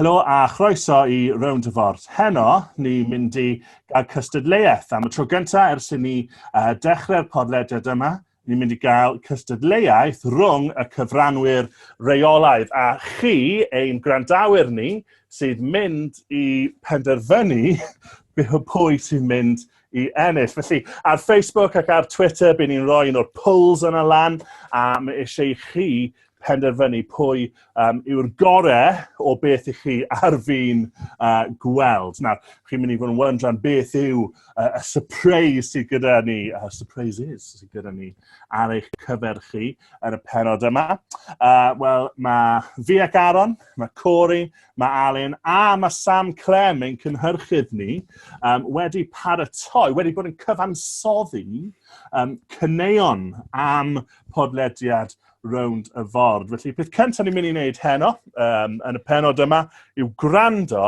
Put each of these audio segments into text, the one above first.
Helo a chroeso i Round of Art. Heno, ni'n mynd i gael cystadleuaeth am y tro gyntaf ers i ni uh, dechrau'r podlediad yma. ni'n mynd i gael cystadleuaeth rhwng y cyfranwyr reolaidd a chi, ein gwrandawyr ni, sydd mynd i penderfynu pwy sy'n mynd i ennill. Felly, ar Facebook ac ar Twitter, bydd ni'n rhoi un o'r polls yna lan, a mae eisiau i chi penderfynu pwy um, yw'r gorau o beth i chi ar fi'n uh, gweld. Nawr, chi'n mynd i fod yn wyndran beth yw uh, y surprise sydd gyda ni, uh, surprises sydd gyda ni ar eich cyfer chi yn y penod yma. Uh, Wel, mae fi ac Aaron, mae Corey, mae Alun a mae Sam Clem ein cynhyrchydd ni um, wedi paratoi, wedi bod yn cyfansoddi um, cyneuon am podlediad rownd y ford. Felly, peth cyntaf ni'n mynd i wneud heno, um, yn y penod yma, yw gwrando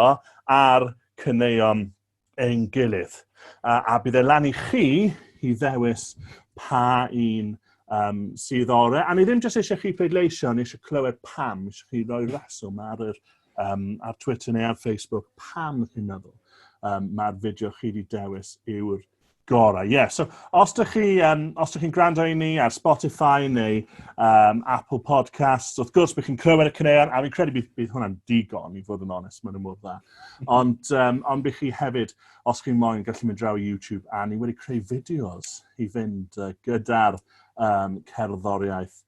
ar cyneuon ein gilydd. Uh, a bydd e lan i chi i ddewis pa un um, sydd orau. A ni ddim jyst eisiau chi pleidleisio, ni eisiau clywed pam, eisiau chi roi reswm ar, yr, um, ar Twitter neu ar Facebook, pam chi'n meddwl um, mae'r fideo chi wedi dewis yw'r Gorau, ie. Yeah. So, os ydych chi, um, os ydych chi'n gwrando i ni ar Spotify neu um, Apple Podcasts, wrth gwrs bydd chi'n clywed y cyneuon, a fi'n credu bydd, bydd hwnna'n digon, i fod yn onest, mae'n ymwneud dda. Ond, um, ond bydd chi hefyd, os chi'n moyn, gallu mynd draw i YouTube, a ni wedi creu fideos i fynd uh, gyda'r um, cerddoriaeth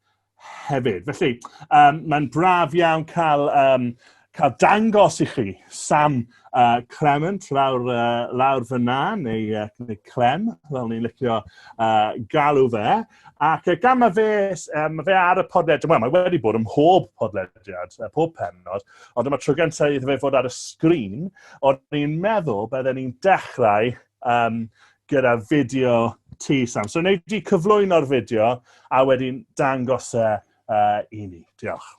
hefyd. Felly, um, mae'n braf iawn cael, um, cael dangos i chi Sam uh, Clement lawr, uh, lawr fyna, neu, uh, neu Clem, fel ni'n licio uh, galw fe. Ac uh, gan mae fe, um, fe ar y podlediad, well, mae wedi bod ym mhob podlediad, uh, pob penod, ond dyma tro gyntaf iddo fe fod ar y sgrin, ond ni'n meddwl bydden ni'n dechrau um, gyda fideo ti, Sam. So, wneud di cyflwyno'r fideo a wedyn dangos e uh, i ni. Diolch.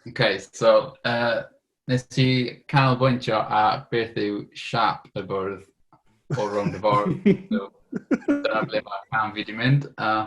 OK, so, uh, nes ti cael bwyntio a beth yw siap y bwrdd o rownd y ffordd. so, dyna ble mae cam fi wedi mynd. Uh,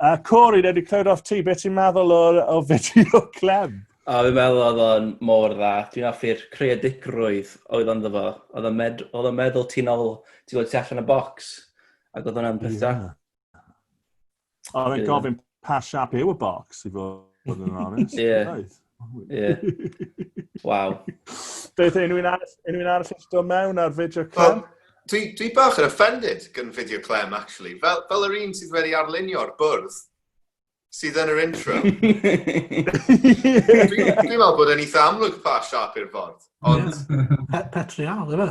A Corey, neu wedi clywed off ti, beth ti'n meddwl o, o fideo Clem? A fi'n meddwl oedd o'n mor dda. Dwi'n affi'r creadigrwydd oedd o'n dda. Oedd o'n med, oedd o'n meddwl ti'n ôl, ti'n ôl ti allan y box. Ac oedd o'n peth da. Oedd o'n gofyn pa siap yw y box, i fod yn honest. Ie. Ie. Waw. Beth yw unrhyw'n arall, unrhyw'n arall eisiau dod mewn ar fideo clem? Dwi, dwi bach yn offended gan fideo clem, actually. Fel, fel yr un sydd wedi arlunio'r bwrdd sydd yn yr intro. Dwi'n dwi meddwl bod e'n eitha amlwg pa siap i'r ffordd, ond... Patrial, efe?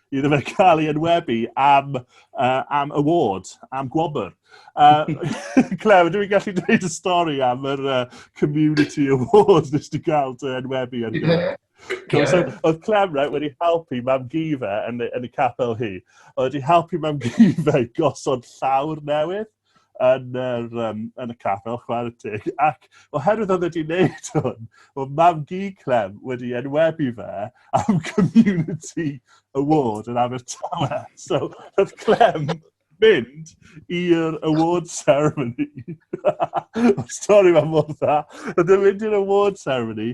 iddo fe cael ei enwebu am, uh, am award, am gwobr. Uh, Clem, dwi'n gallu dweud y stori am yr uh, Community Award nes di gael dy enwebu yn gyfer. Yeah. So, oedd Clem right, wedi helpu mam Gifa yn, yn y capel hi. Oedd wedi helpu mam Gifa i gosod llawr newydd. yn, yr, um, yn y capel, chwarae teg. Ac oherwydd oedd wedi wneud hwn, o mam gi Clem wedi enwebu fe am Community Award yn Abertawe. So, oedd Clem mynd i'r award ceremony. Mae'r stori mae'n mor dda. Oedd yn mynd i'r award ceremony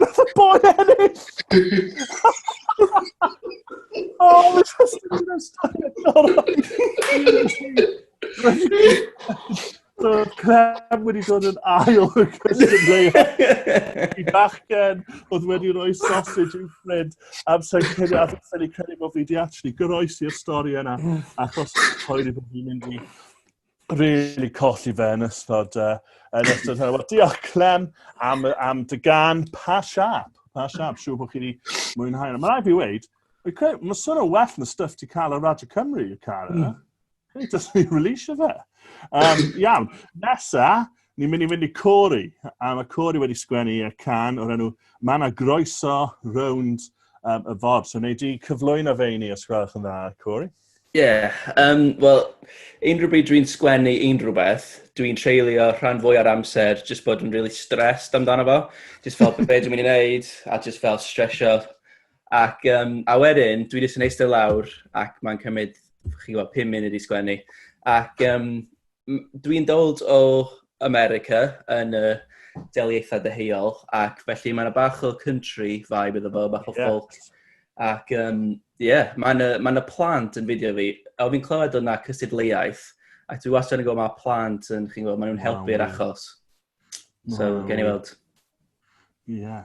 Nath y boi ennill! oh, mae'n just yn mynd o'r stafell. So, Clem wedi dod yn ail o Christian Leia. I bachgen oedd wedi rhoi sausage i'w ffrind am sa'n credu a sa'n credu bod fi wedi actually goroesi'r stori yna achos poen i bod fi'n mynd i really colli fe yn ystod, uh, yn ystod hynny. Wel, diolch Clem am, am dy gan pa siap. Pa siap, siw bod chi wedi mwynhau. Mae'n rhaid fi weid, mae sôn o well na stuff ti cael ar Radio Cymru, y car yna. Mm. Ni just ni release fe. Um, iawn, nesa, ni'n mynd i fynd i Cori. A mae Cori wedi sgwennu y can o'r enw Mae yna groeso rownd um, y fod. So, neu di cyflwyno fe i ni, os gwelwch yn dda, Cori. Ie, um, wel, unrhyw bryd dwi'n sgwennu unrhyw beth, dwi'n treulio rhan fwy ar amser jyst bod yn really stressed amdano fo. Jyst fel beth dwi'n mynd i wneud a jyst fel stresio. Ac, um, a wedyn, dwi jyst yn eistedd lawr ac mae'n cymryd, chi gwybod, 5 munud i sgwennu. Ac, um, dwi'n dod o America yn y deliaethau deheuol, ac felly mae'n bach o country vibe iddo fo, bach o yeah. folk. Ac, ie, um, yeah, mae'n y, mae plant yn fideo fi. O, fi'n clywed o'na cystadleuaeth, ac dwi wastad yn gwybod mae plant yn, chi'n gwybod, maen nhw'n helpu'r achos. So, wow. gen i weld. Ie. Yeah.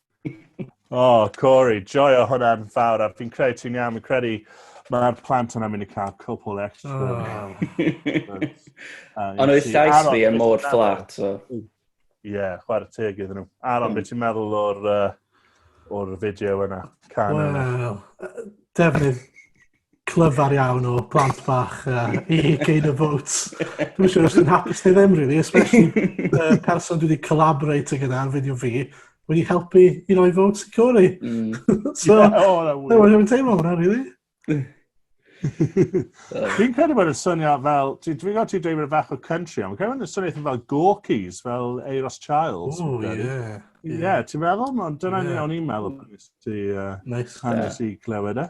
oh, Corey, joio hwnna'n fawr. A fi'n credu ti'n iawn, fi'n credu Mae'r plant yna mynd i cael cwpl extra. Ond oedd llais fi yn mor fflat. Ie, chwarae teg iddyn nhw. Aron, beth ti'n meddwl o'r, uh, o'r fideo yna? Wel, defnydd clyfar iawn o plant bach uh, i gain a vote. Dwi'n siŵr os dwi'n hapus neu ddim, really, especially uh, person dwi wedi collaborate gyda ar fideo fi, wedi helpu i roi votes i Cori. Mm. so, yeah, oh, na, no, dwi'n teimlo hwnna, really. Dwi'n credu bod y syniad fel, dwi'n dwi gwybod ti'n dweud bod bach o country, ond credu bod y syniad fel Gorkies, fel Eiros Childs. O, ie. Ie, ti'n meddwl? Dyna ni o'n i'n meddwl. Nice. Hannes i glywed e.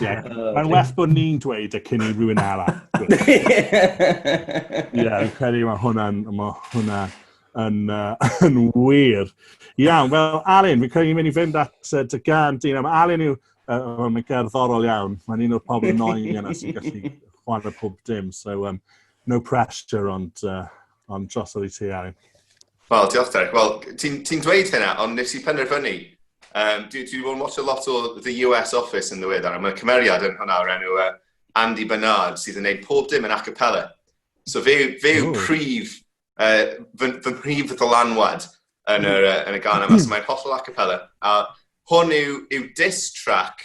Yeah. Uh, Mae'n well bod ni'n dweud y cyn i rhywun arall. Ie, yeah, fi'n credu mae hwnna'n ma hwnna yn, uh, yn wir. Iawn, wel, Alun, fi'n credu ni'n mynd i fynd at uh, dy gan dyn. Mae Alun yw, uh, mae'n gerddorol iawn. Mae'n un o'r pobl yn oen yna sy'n gallu chwan y pob dim. So, um, no pressure, ond uh, ond drosodd i ti, Aaron. Wel, diolch Derek. Wel, ti'n ti dweud hynna, ond nes i penderfynu. Um, dwi wedi bod yn watch a lot o The US Office yn ddiwedd, a mae cymeriad yn hwnna o'r enw uh, Andy Bernard sydd yn gwneud pob dim yn acapella. So fe, fe yw prif, uh, fy, fy mhrif ddylanwad yn, yr, uh, yn y gan yma, so mae'n hollol acapella. A hwn yw, yw diss track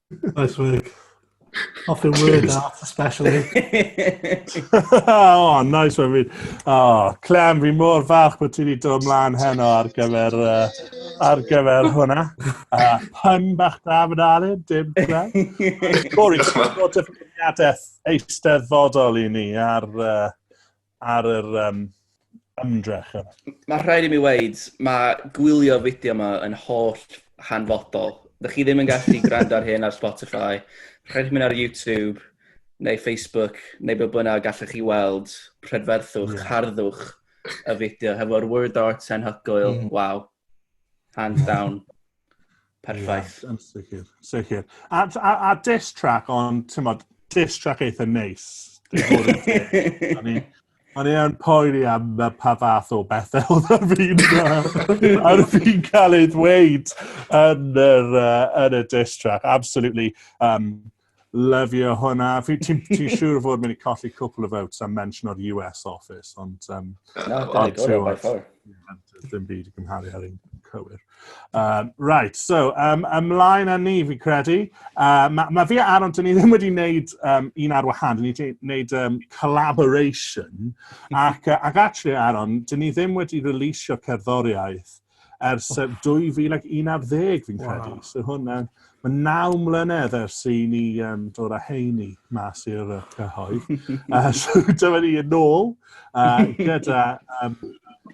Nice work. Off your word art, especially. oh, nice one. Fi. Oh, Clem, fi mor falch bod ti wedi dod ymlaen heno ar gyfer, uh, ar gyfer hwnna. Uh, pun bach da fy dalu, dim Clem. Corey, ti'n bod dyfyniadaeth eisteddfodol i ni ar, uh, ar yr um, ymdrech yna. Mae rhaid i mi weid, mae gwylio fideo yma yn holl hanfodol. Dych chi ddim yn gallu gwrando ar hyn ar Spotify, rhaid i mi ar YouTube neu Facebook neu be bynnag gallwch chi weld prydferthwch, yeah. harddwch y fideo hefo'r word art sen hygoel, mm. waw, hands down. Perffaith. Ie, yn sicr, sicr. A, a, a diss track, ond, ti'n modd, diss track eitha neis. O'n i yn poeni am pa fath o bethau oedd ar fi'n ar fi'n cael ei ddweud yn, yr, uh, yn y diss track. Absolutely. Um, Lyfio hwnna. Fi ti'n ti siŵr o fod mynd i colli cwpl o votes am mention o'r US office, ond... Um, no, ond ti'n gwybod, dim byd i gymharu ar un cywir. Um, right, so, um, ymlaen â ni, fi credu. Uh, mae ma fi a Aaron, dyn ni ddim wedi wneud um, un ar wahan, dyn ni wedi wneud um, collaboration, ac, uh, ac actually, Aaron, dyn ni ddim wedi releasio cerddoriaeth ers 2011 ar ddeg fi'n credu. Wow. So hwnna, mae naw mlynedd ers i ni um, dod â heini mas i'r cyhoedd. uh, so dyma ni yn ôl uh, gyda um,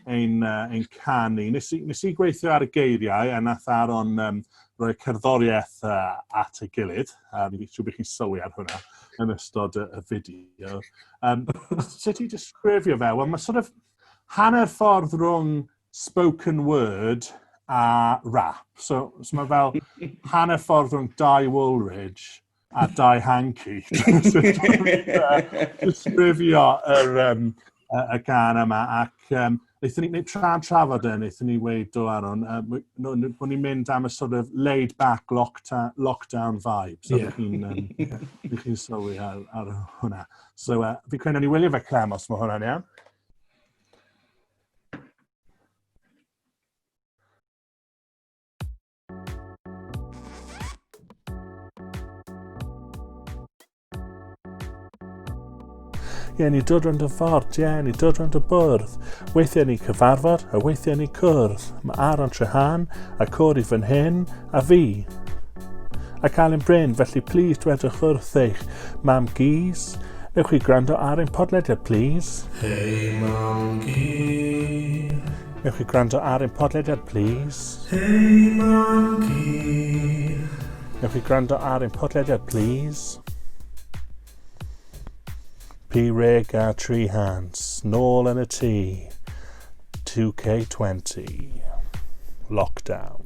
ein, uh, ein canu. Nes i, nes i gweithio ar y geiriau a nath Aron um, roi cerddoriaeth uh, at y gilydd. A um, siw bych chi'n sylwi ar hwnna yn ystod y, y fideo. Um, sut i disgrifio fe? Wel, mae sort of hanner ffordd rhwng spoken word a rap. So, so mae fel hanner ffordd rhwng Dai Woolridge a Dai Hanky. Disgrifio yr, um, y, y gan yma. Ac um, wnaethon ni, tra trafod e, wnaethon ni weid o Aron, uh, bod ni'n mynd am y sort of laid back lockdown, lockdown vibe. So, yeah. chi'n um, chi sylwi ar, ar hwnna. So, uh, fi credu ni wylio fe Clem, os mae hwnna'n iawn. ie, ni dod rhwnd y ffordd, ie, ni dod rhwnd y bwrdd. Weithiau ni cyfarfod, a weithiau ni cwrdd. Mae Aaron Trehan, a Cori fan hyn, a fi. Ac Alun Bryn, felly plîs dwedwch wrth eich mam gys, newch chi gwrando ar ein podlediad plîs? Hei mam gys. Newch chi gwrando ar ein podlediad plîs? Hei mam gys. Newch chi gwrando ar ein podlediad plîs? Pi reg a tri hans, nôl yn y tŷ. 2K20. Lockdown.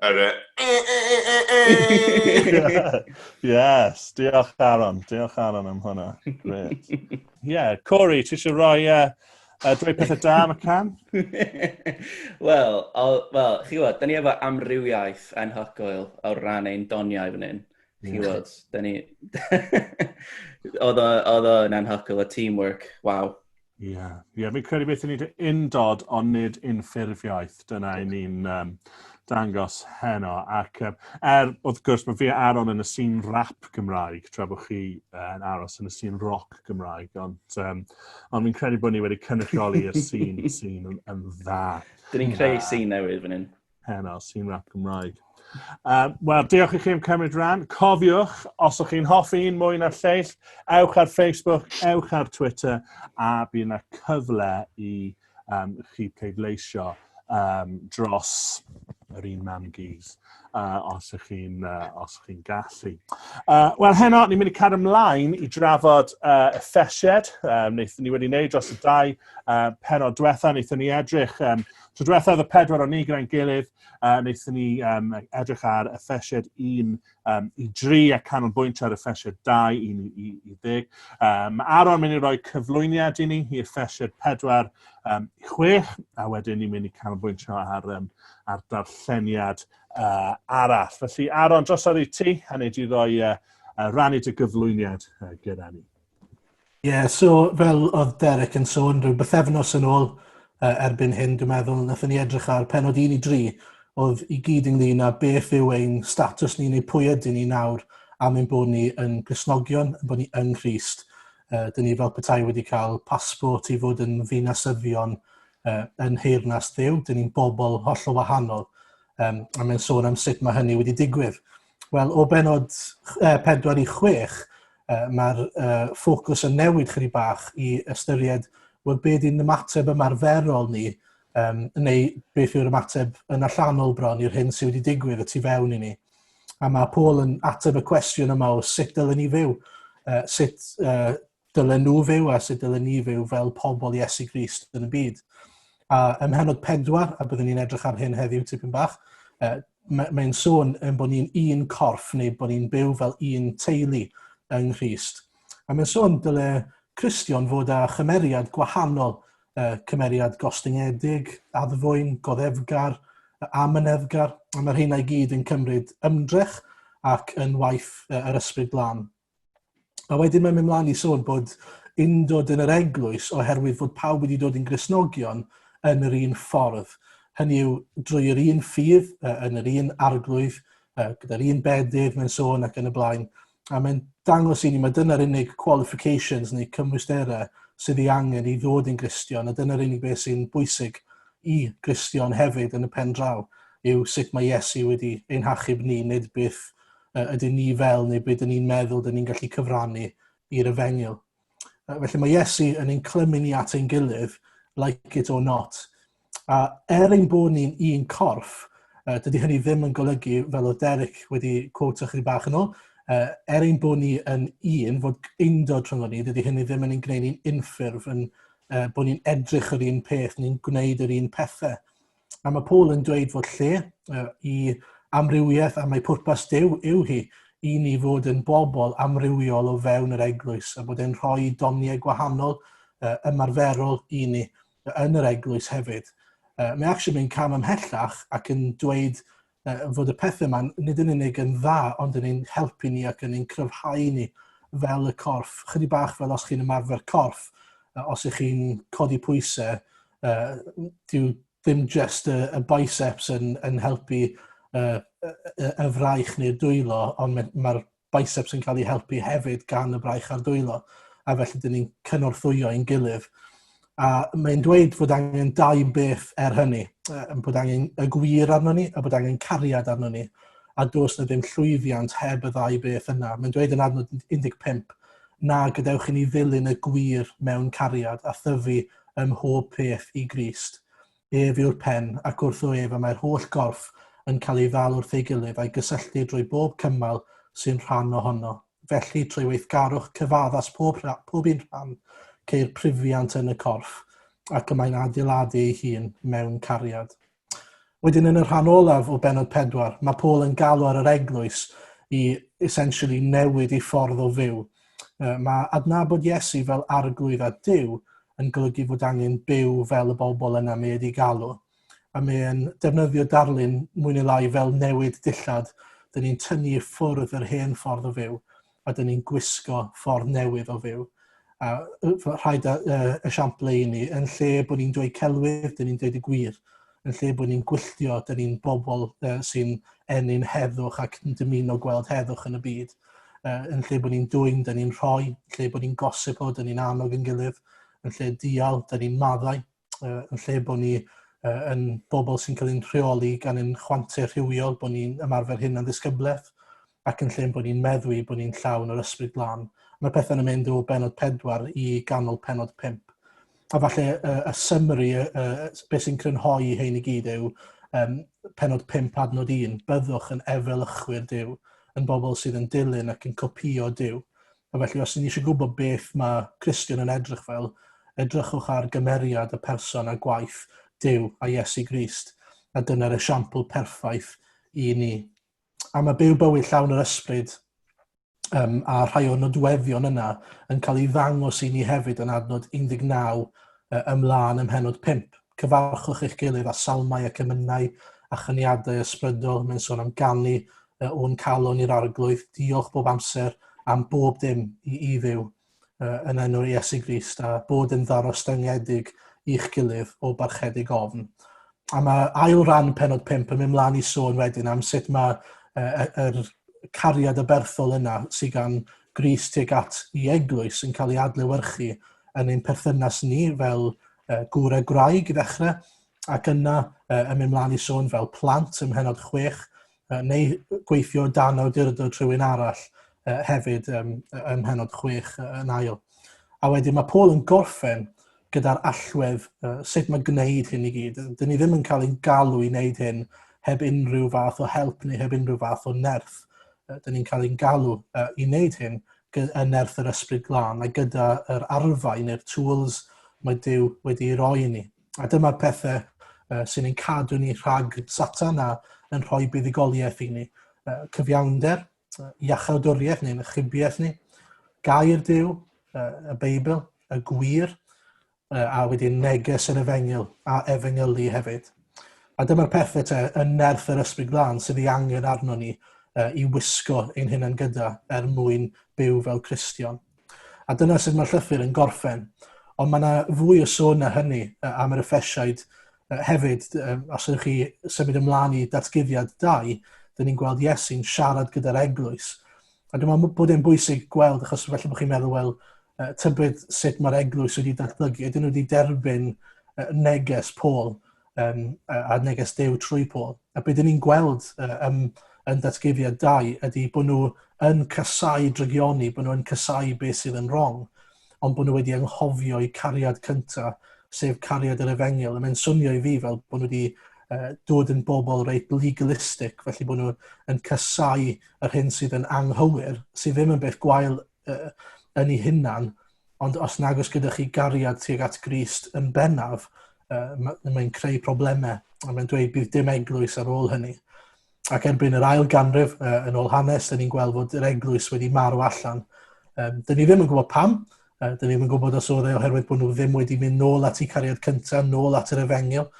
Yr e... yes, diolch Aaron, diolch Aaron am hwnna. Great. yeah, Corey, ti eisiau rhoi uh, uh, dweud pethau da am y can? Wel, well, chi gwybod, da ni efo amrywiaeth enhogoel o ran ein doniau fan hyn. Chi gwybod, da ni... oedd o'n enhogoel, y teamwork, waw. Ie, yeah. yeah, fi'n credu beth i ni wedi undod ond nid unffurfiaeth. Dyna i ni'n um, dangos heno. Ac um, er, wrth gwrs, mae fi a Aaron yn y sîn rap Gymraeg, tra bod chi yn aros yn y sîn roc Gymraeg. Ond, um, ond fi'n credu bod ni wedi cynrychioli'r sîn sîn yn, yn dda. Dyn ni'n creu sîn newydd fan hyn. heno sy'n rap Gymraeg. Um, Wel, diolch i chi am cymryd rhan. Cofiwch, os ydych chi'n hoffi un mwy na'r lleill, ewch ar Facebook, ewch ar Twitter, a bydd yna cyfle i um, chi pleidleisio um, dros yr un mam gys, uh, os ydych chi'n uh, chi gallu. Uh, Wel, heno, ni'n mynd i cadw ymlaen i drafod uh, effesied. Um, wnaethon ni wedi wneud dros y dau uh, penod diwetha, wnaethon ni edrych um, Tro diwetha oedd y pedwar o'n ni gyda'n gilydd, uh, wnaethon ni um, edrych ar y ffesied 1 um, i 3 a canolbwyntio ar y ffesied 2 i, i, i ddeg. Um, Aron mynd i roi cyflwyniad i ni i'r ffesied 4 um, i 6 a wedyn ni'n mynd i canolbwyntio ar, um, ar darlleniad uh, arall. Felly Aron, dros ar i ti a wneud i roi uh, uh, rannu dy gyflwyniad uh, gyda ni. Ie, yeah, so fel oedd Derek yn sôn, rhyw bythefnos yn ôl uh, erbyn hyn, dwi'n meddwl, nath ni edrych ar penod 1 i 3, oedd i gyd ynglyn â beth yw ein status ni neu pwy ydyn ni nawr am ein bod ni yn gysnogion, yn bod ni yng Nghyst. Uh, dyn ni fel petai wedi cael pasbort i fod yn ddinasyddion uh, yn heirnas ddew, dyn ni'n bobl holl o wahanol, um, a mae'n sôn am sut mae hynny wedi digwydd. Wel, o benod 4 i 6, uh, mae'r uh, ffocws yn newid chyri bach i ystyried wel, be di'n ymateb ymarferol ni, um, neu beth yw'r ymateb yn allanol bron i'r hyn sydd wedi digwydd y tu fewn i ni. A mae Paul yn ateb y cwestiwn yma o sut dylen ni fyw, uh, sut uh, dylen nhw fyw a sut dylen ni fyw fel pobl Iesu Grist yn y byd. A ym mhenod pedwar, a byddwn ni'n edrych ar hyn heddiw tipyn bach, uh, mae'n sôn yn bod ni'n un corff neu bod ni'n byw fel un teulu yng Nghyst. A mae'n sôn dyle Cristion fod â chymeriad gwahanol, uh, cymeriad gostyngedig, addfwyn, goddefgar, a myneddgar, a mae'r hynna i gyd yn cymryd ymdrech ac yn waith uh, yr ysbryd glân. A wedyn mae'n mynd mlaen i sôn bod undod yn yr eglwys oherwydd fod pawb wedi dod yn grisnogion yn yr un ffordd. Hynny yw, drwy yr un ffydd, yn yr un arglwydd, gyda'r un bedydd mae'n sôn ac yn y blaen. A mae'n dangos i ni, mae dyna'r unig qualifications neu cymwysterau sydd ei angen i ddod yn Gristion, a dyna'r unig beth sy'n bwysig i Gristion hefyd yn y pen draw, yw sut mae Iesu wedi ein hachub ni, nid byth uh, ydyn ni fel neu beth ydyn ni'n meddwl ydyn ni'n gallu cyfrannu i'r efengyl. Uh, felly mae Iesu yn ein clymu ni at ein gilydd, like it or not. A er ein bod ni'n un corff, uh, dydy hynny ddim yn golygu, fel oedd Derek wedi quote chi bach yn ôl, uh, er ein bod ni yn un, fod eindod rhwng ni, dydy hynny ddim yn ein gwneud ni'n unffurf, yn, uh, bod ni'n edrych yr un peth, ni'n gwneud yr un pethau. A mae Paul yn dweud fod lle uh, i amrywiaeth a mae pwrpas Dyw yw hi i ni fod yn bobl amrywiol o fewn yr eglwys a bod e'n rhoi doniau gwahanol uh, ymarferol i ni yn yr eglwys hefyd. Uh, mae actually yn cam ymhellach ac yn dweud fod y pethau yma nid yn unig yn dda, ond yn ein helpu ni ac yn ein cryfhau ni fel y corff. Chydig bach fel os chi'n ymarfer corff, os ych chi'n codi pwysau, uh, dyw ddim just y, y biceps yn, yn helpu uh, y, y fraich neu'r dwylo, ond mae'r biceps yn cael ei helpu hefyd gan y braich a'r dwylo, a felly dyn ni'n cynorthwyo i'n gilydd. A mae'n dweud fod angen dau beth er hynny, bod angen y gwir arno ni a bod angen cariad arno ni, a dos na ddim llwyddiant heb y ddau beth yna. Mae'n dweud yn adnod 15 na gadewch i ni ddilyn y gwir mewn cariad a thyfu ym mhob peth i Grist. Ef yw'r pen, ac wrtho ef y mae'r holl gorff yn cael ei ddal wrth ei gilydd a'i gysylltu drwy bob cymal sy'n rhan ohono. Felly, trwy weithgarwch cyfaddas pob, pob un rhan, ceir prufiant yn y corff, ac y mae'n adeiladu ei hun mewn cariad. Wedyn yn y rhan olaf o benod pedwar, mae Paul yn galw ar yr eglwys i essentially newid ei ffordd o fyw Mae adnabod Iesu fel Arglwydd a Duw yn golygu fod angen byw fel y bobl yna mae wedi galw, a mae'n defnyddio darlun mwy neu lai fel newid dillad, dyn ni'n tynnu i ffwrdd yr hen ffordd o fyw, a dyn ni'n gwisgo ffordd newydd o fyw. A rhaid y, y, y siample i ni, yn lle bod ni'n dweud celwydd, dyn ni'n dweud y gwir. yn lle bod ni'n gwylltio, dyn ni'n bobl uh, sy'n ennyn heddwch ac yn dymuno gweld heddwch yn y byd. Uh, yn lle bod ni'n dwy'n, dyn ni'n rhoi, yn lle bod ni'n gosip o, dyn ni'n annog yn gilydd, yn lle dial, dyn ni'n maddau, uh, yn lle bod ni uh, yn bobl sy'n cael ein rheoli gan ein chwante rhywiol, bod ni'n ymarfer hyn yn ddisgyblaeth, ac yn lle bod ni'n meddwi bod ni'n llawn yr ysbryd glân, mae pethau'n yn mynd o benod 4 i ganol penod 5. A falle uh, y summary, uh, uh, beth sy'n crynhoi i hyn i gyd yw um, penod 5 adnod 1, byddwch yn efelychwyr Dyw, yn bobl sydd yn dilyn ac yn copio Dyw. A felly, os ni eisiau gwybod beth mae Christian yn edrych fel, edrychwch ar gymeriad y person a gwaith Dyw a Iesu Grist, a dyna'r esiampl perffaith i ni. a mae byw bywyd llawn yr ysbryd um, a rhai o'r nodweddion yna yn cael ei ddangos i ni hefyd yn adnod 19 ymlaen ym mhenod 5. Cyfarchwch eich gilydd a salmau ac ymynau a chyniadau ysbrydol. Mae'n sôn am ganlu o'n calon i'r arglwydd. Diolch bob amser am bob dim i, i ddew. uh, yn enw'r Iesu Grist a bod yn ddarostyngedig i'ch gilydd o barchedig ofn. A mae ail ran penod 5 yn mynd mlaen i sôn wedyn am sut mae uh, er cariad y berthol yna sydd gan Gris tuag at i eglwys yn cael ei adlewyrchu yn ein perthynas ni fel uh, gŵr a gwraig i ddechrau, ac yna uh, yn mynd mlaen i sôn fel plant ym mhenod chwech, uh, neu gweithio dan awdurdod rhywun arall uh, hefyd um, ym mhenod 6 uh, yn ail. A wedyn mae Paul yn gorffen gyda'r allwedd uh, sut mae gwneud hyn i gyd. Dyn ni ddim yn cael ein galw i wneud hyn heb unrhyw fath o help neu heb unrhyw fath o nerth. Uh, dyn ni'n cael ein galw uh, i wneud hyn y nerth yr ysbryd glân a gyda'r arfau neu'r tools mae Dyw wedi ei roi i ni. A dyma'r pethau uh, sy'n ein cadw ni rhag satan a yn rhoi buddigoliaeth i ni. Uh, cyfiawnder, uh, iachawdwriaeth neu'n ychybiaeth ni, gair Dyw, uh, y Beibl, y gwir, uh, a wedyn neges yr efengyl a efengylu hefyd. A dyma'r pethau te yn nerth yr ysbryd glân sydd ei angen arno ni uh, i wisgo ein hunain gyda er mwyn byw fel Cristion. A dyna sut mae'r llythyr yn gorffen. Ond mae yna fwy o sôn na hynny am yr effesiaid hefyd. Os ydych chi symud ymlaen i datguddiad 2, dyn ni'n gweld Iesu'n siarad gyda'r eglwys. A dwi'n meddwl bod e'n bwysig gweld, achos felly bod chi'n meddwl, wel, tybed sut mae'r eglwys wedi datblygu, ydyn nhw wedi derbyn neges Paul, um, a neges dew trwy Paul. A beth ni'n gweld uh, um, yn datguddiad dau ydy bod nhw yn casau drygioni, bod nhw'n casau beth sydd yn wrong, ond bod nhw wedi anghofio i cariad cyntaf, sef cariad yr efengil. A mae'n swnio i fi fel bod nhw wedi uh, dod yn bobl reit legalistic, felly bod nhw yn casau yr hyn sydd yn anghywir, sydd ddim yn beth gwael uh, yn ei hunan, ond os nag oes gyda chi gariad tuag at Grist yn bennaf, uh, mae'n mae creu problemau, a mae'n dweud bydd dim eglwys ar ôl hynny. Ac erbyn yr ail ganrif, uh, yn ôl hanes, dyn ni'n gweld fod yr eglwys wedi marw allan. Um, dyn ni ddim yn gwybod pam, uh, dyn ni ddim yn gwybod os oedd e oherwydd bod nhw ddim wedi mynd nôl at i cariad cyntaf, nôl at yr efengil,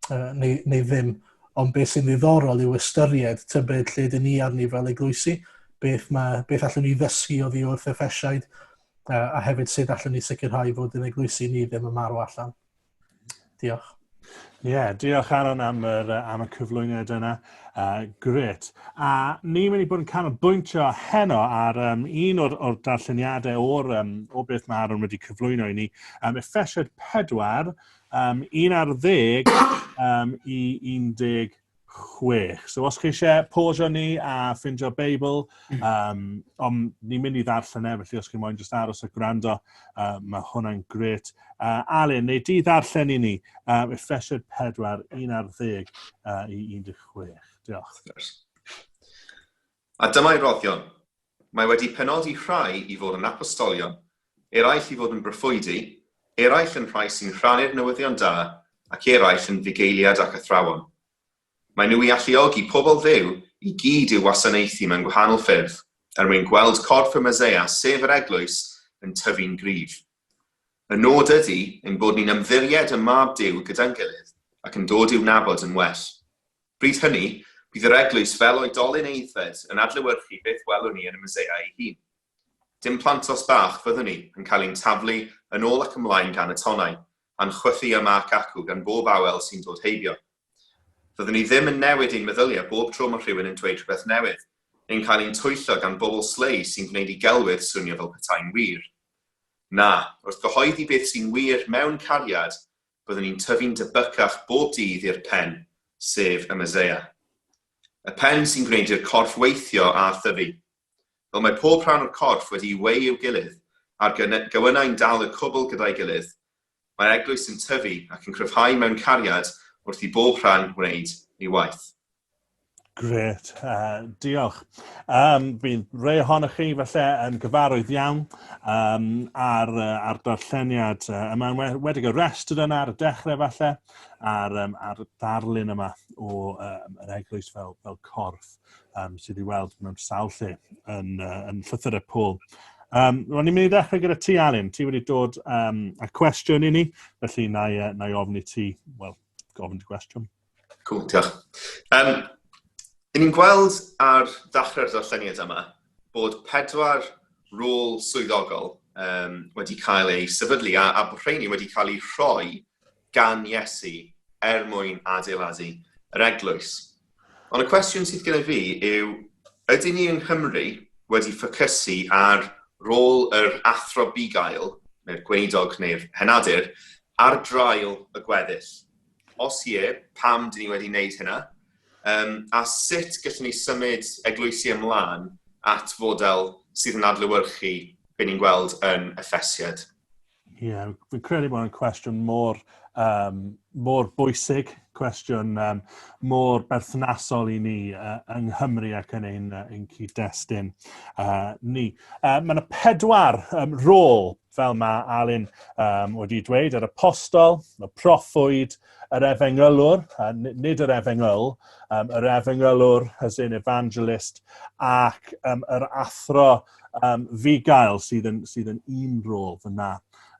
uh, neu, neu ddim. Uh, Ond beth sy'n ddiddorol yw ystyried, tybed lle dyn ni arni fel eglwysi, beth, mae, beth allwn ni ddysgu o ddi wrth effesiaid, a, a hefyd sut allwn ni sicrhau fod yn eglwysi ni ddim yn marw allan. Diolch. Ie, yeah, diolch Aaron am, yr, am y cyflwyniad yna. Uh, gret. A ni'n mynd i bod yn canolbwyntio heno ar um, un o'r, or darlleniadau o'r, um, o beth mae Aaron wedi cyflwyno i ni. Um, Effesiad 4, um, 1 ar ddeg um, i 16. So os chi eisiau posio ni a ffindio Beibl, um, om, ni'n mynd i ddarllen e, felly os chi moyn just aros a gwrando, uh, mae hwnna'n gret. Uh, Alun, neu di ddarllen i ni, um, Efesiad 4, 1 ar ddeg uh, i 16. Diolch. A dyma'i roddion, Mae wedi penodi rhai i fod yn apostolion, eraill i fod yn broffwydi, eraill yn rhai sy'n rhannu'r newyddion da, ac eraill yn fugeiliad ac athrawon. Maen nhw i alluogi pobl Dduw i gyd i'w wasanaethu mewn gwahanol ffyrdd, er mwyn gweld corff y Meseia, sef yr Eglwys, yn tyfu'n gryf. Y nod ydy ein bod ni'n ymddiried ym mab Duw gyda'n gilydd ac yn dod i'w nabod yn well. Bryd hynny, bydd yr eglwys fel oedolyn aeddfed yn adlewyrchu beth welwn ni yn y Meseia ei hun. Dim plantos bach fyddwn ni, yn cael ein taflu yn ôl ac ymlaen gan y tonnau, a'n chwythu yma ac acw gan bob awel sy'n dod heibio. Fyddwn ni ddim yn newid ein meddyliau bob tro mae rhywun yn dweud rhywbeth newydd, neu'n cael ein twyllo gan bobl slei sy'n gwneud i gelwydd swnio fel petai'n wir. Na, wrth gyhoeddi beth sy'n wir mewn cariad, byddwn ni'n tyfu'n debycach bob dydd i'r Pen, sef y Meseia. Y Pen sy'n gwneud i'r corff weithio a thyfu. Fel mae pob rhan o'r corff wedi'i weu i'w gilydd, a'r gewynnau'n dal y cwbl gyda'i gilydd, Mae'r Eglwys yn tyfu ac yn cryfhau mewn cariad wrth i bob rhan wneud ei waith. Gret, uh, diolch. Um, bydd rei ohonoch chi felly yn gyfarwydd iawn um, ar, uh, ar darlleniad uh, yma, wedi y restr yna ar y dechrau falle, ar, um, ar darlun yma o um, yr eglwys fel, fel corff. um, sydd wedi weld mewn sawl lle yn, uh, yn llythyr y pôl. Um, Ro'n i'n mynd i ddechrau gyda ti, Alun. Ti wedi dod um, a cwestiwn i ni, felly na i, na i ofni ti, wel, gofyn ti cwestiwn. Cool, diolch. Um, I ni'n gweld ar ddechrau'r ddarlleniad yma bod pedwar rôl swyddogol um, wedi cael ei sefydlu a, a bod rheini wedi cael eu rhoi gan Iesu er mwyn adeiladu yr eglwys. Ond y cwestiwn sydd gen i fi yw, ydy ni yng Nghymru wedi ffocysu ar rôl yr athro bugail, neu'r gweinidog neu'r henadur, ar draul y gweddill? Os ie, pam dyn ni wedi wneud hynna? Um, a sut gallwn ni symud eglwysi ymlaen at fodel sydd yn adlywyrchu be ni'n gweld yn effesiad? Ie, yeah, fi'n credu bod yn cwestiwn mor, um, mor bwysig, cwestiwn um, mor berthnasol i ni uh, yng Nghymru ac yn ein, uh, ein cyd-destun uh, ni. Uh, mae yna pedwar um, rôl, fel mae Alun um, wedi dweud, yr apostol, y proffwyd, yr efengylwr, uh, nid yr efengyl, um, yr efengylwr, as in evangelist, ac um, yr athro, Um, fi gael sydd yn, sydd yn un rôl fyna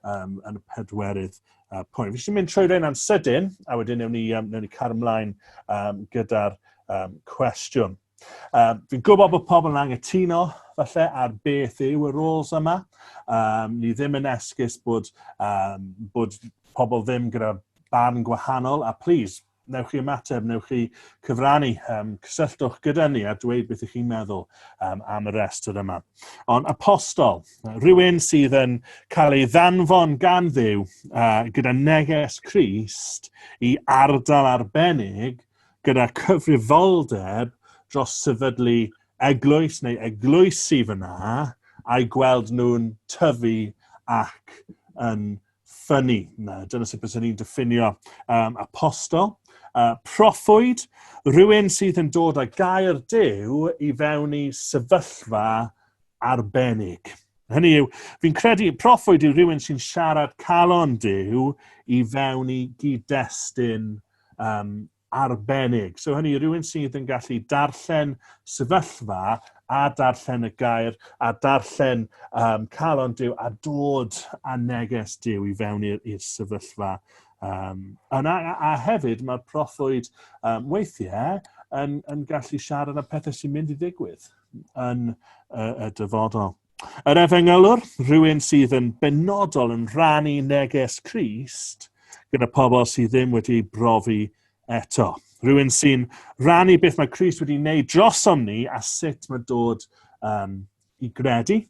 um, yn y pedwerydd uh, pwynt. Fi eisiau mynd trwy rhain am sydyn, a wedyn newn ni, um, newn ni car ymlaen um, gyda'r um, cwestiwn. Um, fi'n gwybod bod pobl yn angytuno falle ar beth yw y roles yma. Um, ni ddim yn esgus bod, um, bod pobl ddim gyda barn gwahanol, a please, newch chi ymateb, newch chi cyfrannu, um, cysylltwch gyda ni a dweud beth ych chi'n meddwl um, am y restr yma. Ond apostol, rhywun sydd yn cael ei ddanfon gan ddew uh, gyda neges Christ i ardal arbennig gyda cyfrifoldeb dros sefydlu eglwys neu eglwysi fyna a'i gweld nhw'n tyfu ac yn Ffynnu. Dyna sut byswn i'n diffinio um, apostol. Uh, proffwyd, rhywun sydd yn dod â gair dew i fewn i sefyllfa arbennig. Hynny yw, fi'n credu proffwyd yw rhywun sy'n siarad calon dew i fewn i gyd-destun um, arbennig. So hynny, rhywun sydd yn gallu darllen sefyllfa a darllen y gair a darllen um, calon Dyw a dod a neges Dyw i fewn i'r sefyllfa. Um, a, a, a hefyd mae'r proffwyd um, weithiau yn, yn gallu siarad am pethau sy'n mynd i ddigwydd yn y, y dyfodol. Yr efengylwr, rhywun sydd yn benodol yn rhannu neges Crist gyda pobl sydd ddim wedi ei brofi eto. Rhywun sy'n rhannu beth mae Crist wedi wneud drosom ni a sut mae dod um, i gredu.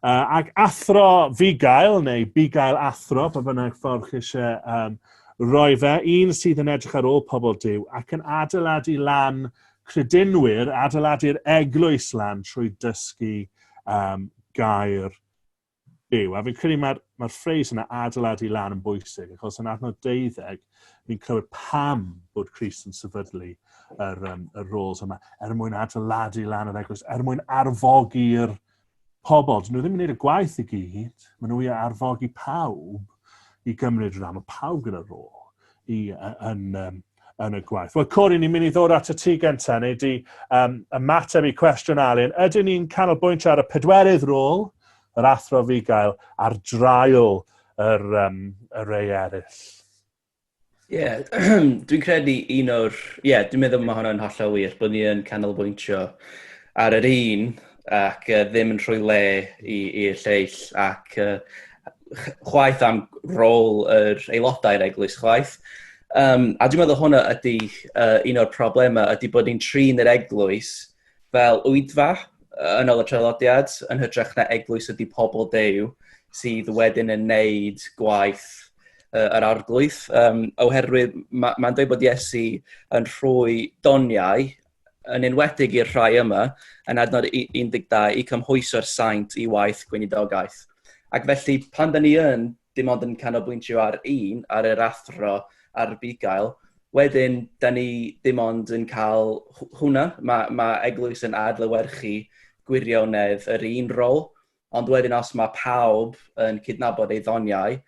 Uh, ac athro fugail, neu bugail athro, pa bynnag ffordd chi eisiau um, roi fe, un sydd yn edrych ar ôl pobl Dyw ac yn adeiladu lan Credinwyr adeiladu'r eglwys lan trwy dysgu um, gair byw. A fi'n credu mae'r mae ffreis yna adeiladu lan yn bwysig, achos yn adnod deuddeg, ni'n clywed pam bod Christ yn sefydlu yr, um, yr roles yma, er mwyn adeiladu lan yr eglwys, er mwyn arfogi'r pobl, dyn nhw ddim yn gwneud y gwaith i gyd, maen nhw i arfogi pawb i gymryd rhan, mae pawb gyda'r rôl i, yn, yn, yn y gwaith. Wel, Cori, ni'n mynd i ddod at y tu gyntaf, neu di um, ymateb i cwestiwn Alun. Ydyn ni'n canolbwyntio ar y pedwerydd rôl, yr athro fi gael, ar draul yr, um, y rei eraill? Ie, yeah, dwi'n credu un o'r... Ie, yeah, dwi'n meddwl mae hwnna'n hollol wir, bod ni yn canolbwyntio ar yr un ac uh, ddim yn rhoi le i'r lleill ac uh, chwaith am rôl yr aelodau'r eglwys chwaith. Um, a dwi'n meddwl hwnna ydy uh, un o'r problemau, ydy bod ni'n trin yr eglwys fel oedfa yn ol y traddodiad yn hytrach na eglwys ydy pobl Dew sydd wedyn yn neud gwaith uh, yr arglwydd um, oherwydd mae'n ma dweud bod Iesu yn rhoi doniau yn enwedig i'r rhai yma yn adnod 12 i cymhwyso'r saint i waith gweinidogaeth. Ac felly pan da ni yn dim ond yn canolbwyntio ar un, ar yr athro a'r bugail, wedyn, da ni dim ond yn cael hwnna. Mae, mae eglwys yn adlywyrchu gwirionedd yr un rôl, ond wedyn os mae pawb yn cydnabod ei ddoniau,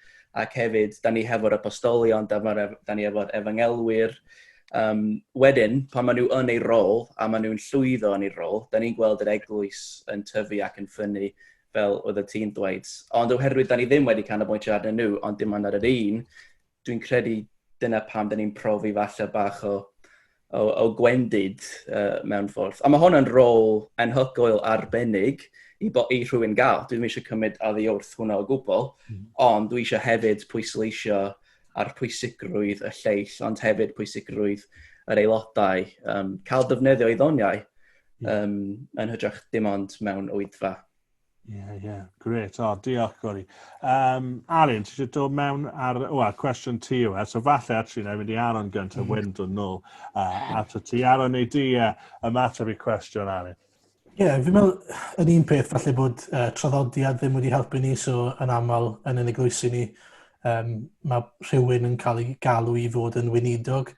ac hefyd, da ni hefo'r apostolion, da, da ni hefo'r efangelwyr, um, wedyn, pan maen nhw yn ei rôl a maen nhw'n llwyddo yn ei rôl, da ni'n gweld yr eglwys yn tyfu ac yn ffynnu fel oeddet ti'n dweud. Ond oherwydd da ni ddim wedi canolbwyntio arnyn nhw, ond dim ond ar yr un, dwi'n credu dyna pam da ni'n profi falle bach o, o, o gwendid uh, mewn ffordd. A mae hwn yn rôl enhygoel arbennig i, bo, i rhywun gael. Dwi'n eisiau cymryd addi wrth hwnna o gwbl, mm. ond dwi eisiau hefyd pwysleisio ar pwysigrwydd y lleill, ond hefyd pwysigrwydd yr aelodau um, cael defnyddio ei ddoniau. Um, yn hydrach dim ond mewn oedfa. Ie, yeah, ie. Yeah. Gret. O, oh, diolch, Gori. Um, Arin, ti eisiau dod mewn ar... O, oh, cwestiwn ti yw e. So, falle, actually, na i mynd i Aron gyntaf, mm. wedyn dod nôl uh, at y ti. Aron, neu di uh, ymateb i cwestiwn, Arin. Ie, yeah, fi'n meddwl, yn un peth, falle bod uh, traddodiad ddim wedi helpu ni, so yn aml yn yn eglwysi ni, um, mae rhywun yn cael ei galw i fod yn weinidog.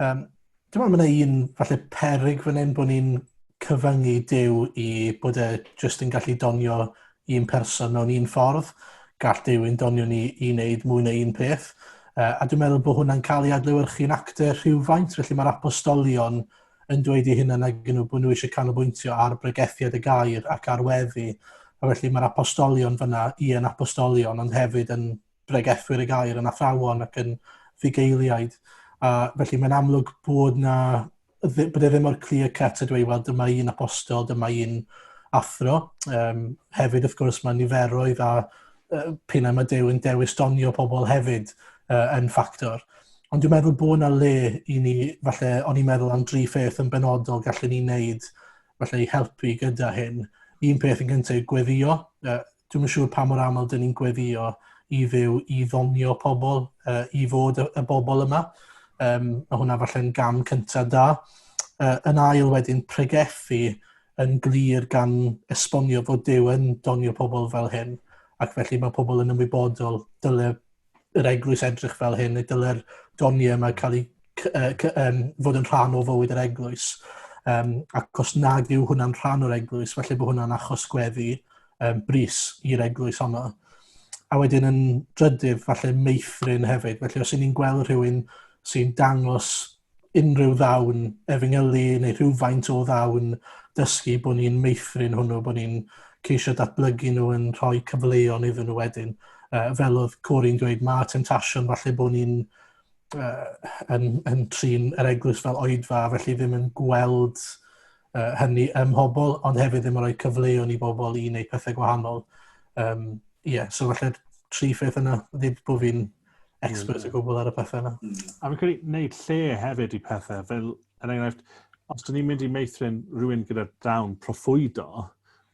Um, Dwi'n meddwl mae yna un falle peryg fan hyn bod ni'n cyfyngu Duw i bod e jyst yn gallu donio un person mewn un ffordd. Gall Duw yn donio ni i wneud mwy na un peth. Uh, a dwi'n meddwl bod hwnna'n cael ei adlewyrchu'n actor rhywfaint, felly mae'r apostolion yn dweud i hynna nag nhw bod nhw eisiau canolbwyntio ar bregethiad y gair ac ar weddi. A felly mae'r apostolion fyna i yn apostolion ond hefyd yn bregethwyr y gair yn athrawon ac yn fugeiliaid. A felly mae'n amlwg bod na bod e ddim o'r clear cut ydw i, wel dyma un apostol, dyma un athro. Um, hefyd, wrth gwrs, mae niferoedd a uh, pina mae Dew yn dewis donio pobl hefyd uh, yn ffactor. Ond dwi'n meddwl bod yna le i ni, falle, o'n i'n meddwl am dri pheth yn benodol gallwn ni wneud, falle, i helpu gyda hyn. Un peth yn gyntaf yw gweddio, uh, Dwi'm yn siŵr pa mor aml dyn ni'n gweddio i Dduw i ddonio pobl, uh, i fod y, y bobl yma. Um, mae hwnna falle'n gam cyntaf da. Uh, yn ail wedyn, pregethu yn glir gan esbonio fod Duw yn donio pobl fel hyn, ac felly mae pobl yn ymwybodol dyle yr eglwys edrych fel hyn, neu dylai'r doniau yma cael eu um, fod yn rhan o fywyd yr eglwys. Um, ac os nad yw hwnna'n rhan o'r eglwys, felly bod hwnna'n achos gweddi um, bris i'r eglwys honno. A wedyn yn drydydd, falle meithrin hefyd. Felly os y'n ni'n gweld rhywun sy'n dangos unrhyw ddawn efengylu neu rhywfaint o ddawn dysgu bod ni'n meithrin hwnnw, bod ni'n ceisio datblygu nhw yn rhoi cyfleon iddyn nhw wedyn. Uh, fel oedd Corin dweud, mae temptation falle bod ni'n uh, yn, yn trin yr eglwys fel oedfa, felly ddim yn gweld uh, hynny ym mhobl, ond hefyd ddim yn rhoi cyfleon i bobl i wneud pethau gwahanol. Um, yeah, so falle tri pheth yna, ddim bod fi'n expert o gwbl ar y pethau yna. Mm. A fi'n credu wneud lle hefyd i pethau, fel yn er enghraifft, os dyn ni'n mynd i meithrin rhywun gyda dawn profwydo,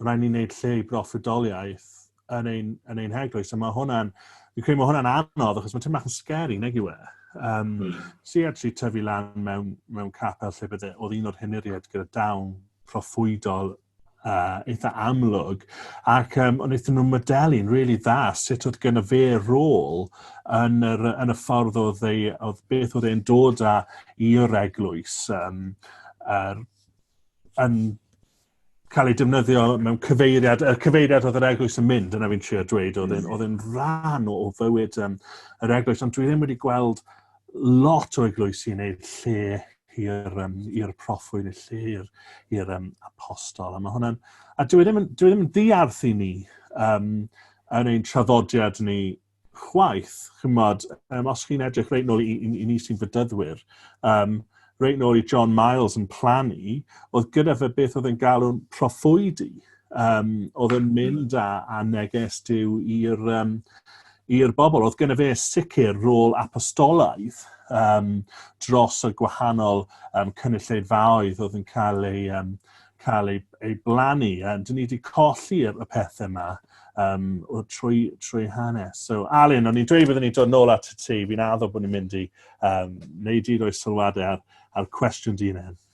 rhaid ni'n gwneud lle i broffwydoliaeth yn ein, yn ein heglwys. A mae hwnna'n, fi'n credu mae hwnna'n anodd, achos mae'n teimlo yn scary, neg yw e. Um, mm. Si actually tyfu lan mewn, mewn capel lle bydde, oedd un o'r hyniriaid gyda dawn proffwydol uh, eitha amlwg. Ac um, ond eithon nhw'n modelu'n rili really dda sut oedd gen y fe rôl yn, yr, yn y ffordd oedd, ei, oedd beth oedd e'n dod â i yr eglwys. Um, er, yn cael ei defnyddio mewn cyfeiriad, y cyfeiriad oedd yr eglwys yn mynd, yna fi'n trio dweud, oedd e'n mm. oedd rhan o, o fywyd um, yr eglwys, ond dwi ddim wedi gweld lot o eglwysi yn ei lle i'r um, i'r proffwyd, y lle i'r, i'r um, apostol. A, mae hwnna'n, a dwi e ddim, yn, dwi e ddim yn ddiarth i ni um, yn ein traddodiad ni chwaith. Chymod, um, os chi'n edrych reit nôl i, i, i ni sy'n fydyddwyr, um, reit nôl i John Miles yn plannu, oedd gyda fe beth oedd yn galw'n proffwydi. Um, oedd yn mynd â, â neges diw i'r um, i'r bobl. Oedd gen fe sicr rôl apostolaidd um, dros y gwahanol um, cynulleidfaoedd oedd yn cael ei, um, cael ei, ei blannu. Um, dyn ni wedi colli y, y pethau yma um, o trwy, trwy hanes. So, Alun, o'n i'n dweud byddwn ni'n dod nôl at y ti, fi'n addo bod ni'n mynd i um, wneud un o'i sylwadau ar, ar cwestiwn dyn hyn.